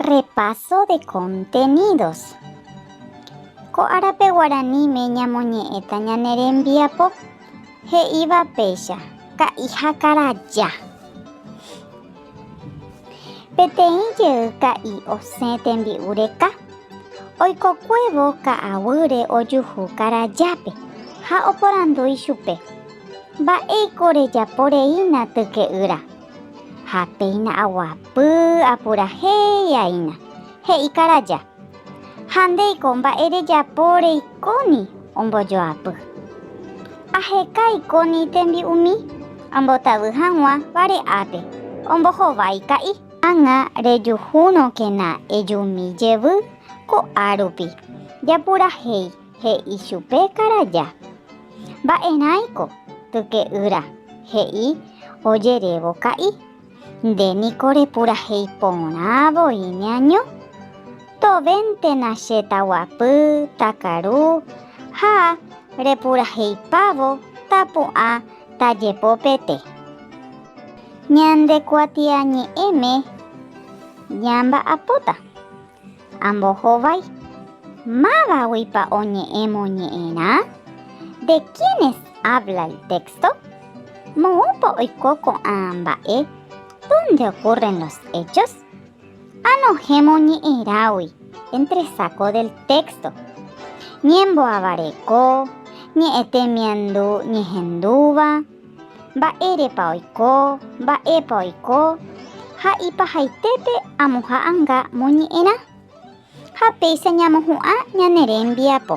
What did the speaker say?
Repaso de contenidos. Ko árape guaraníme ñamoñe'ẽta ñane rembiapo he'íva péicha ka'i ha karaja. Peteĩ jey ka'i osẽ tembi'u reka, oikokuévo ka'aguýre ojuhu karajápe ha oporandúi chupe, Mba'éiko rejapo reína tyke'ýra? Ha péina aguapy apurahéiaina, he'i karaja, Ha ndéiko mba'e rejapo reikóni ombojoapy. Aheka ikóni tembi'umi ambotavy hag̃ua vare'ápe, ombohovái ka'i. Ág̃a rejuhúrõkena ejumi jevy ko'árupi, japurahéi. He'i chupe Karaja. Mba'erãiko, tyke'ýra, he'i ojerévo ka'i. Nde niko repurahéi porã voi neaño. Tovéntena che taguapy, takaru ha repuraheipávo tapu'ã tajepopete. Ñande kuatiañe'ẽme ñamba'apóta. Ambohovái. Mávaguipa oñe'ẽ moñe'ẽrã? De quiénes habla el texto? Moõpa oiko ko'ã mba'e? Dónde ocurren los hechos? Anohẽ moñe'ẽrágui, entresaco del texto. Ñemboavareko, ñe'ẽ temiandu ñehendúva. Mba'érepa oiko, mba'épa oiko, ha ipahaitépe amoha anga moñe'ẽrã. Ha péicha ñamohu'ã ñane rembiapo.